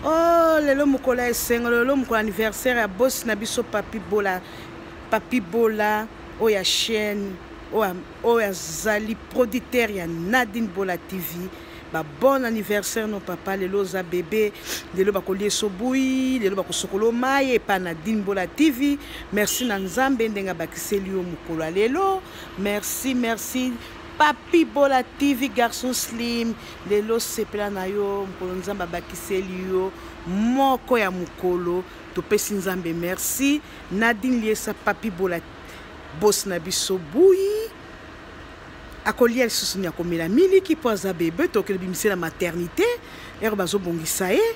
oh lelo mokolo ya esengo lelo mokolo anniversaire ya bosi na biso papi bola papi bola oyo ya chaîne oyo azali producteur ya nadine bola tv ba bon anniversaire no papa lelo oza bebe lelo bakolia esobui lelo bakosokolo mai epa na dimbola tv merci na nzambe ndenge abakiseli yo mokolo ya lelo merci merci Papi Bola TV Garçon Slim lelo sepela na yo mokolo nzambe abakiseli yo moko ya mokolo topesi nzambe merci Nadine Liesa Papi Bola bosi na biso buyi akolia lisusu ni akomela miliki mpo aza bebe tokele bimise na maternité ere bazobongisa ye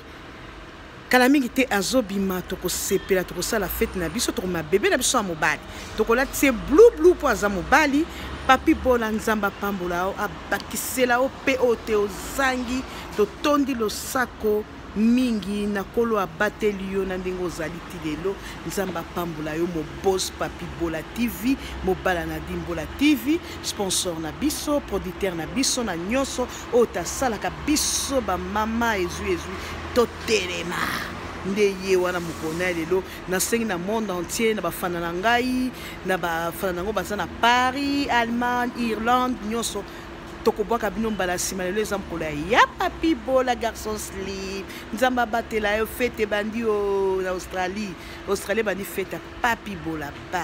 kala mingi te azobima tokosepela tokosala fete na biso tokoma bebe na biso ya mobali tokolati ye blu blu mpo aza mobali papi bola nzambe apambola yo abakisela yo mpe oyo te ozangi totondi losako mingi na kolo abateli yo na ndenge ozali ti lelo nzambe apambola yo mobos papi bola tv mobala na dimbola tv sponsor na biso producteur na biso na nyonso oyo tasalaka biso bamama ezwi ezwi totelema nde ye wana mokolo na ye lelo nasengi na monde entier na bafana na ngai na bafana na yango baza na paris allemagne irlande nyonso tokobwaka bino mbala nsima lelo eza mokolo ya papi bola garçon slip nzambe abatela yo fete ebandi o na australie australie ebandi fete ya papi bola ba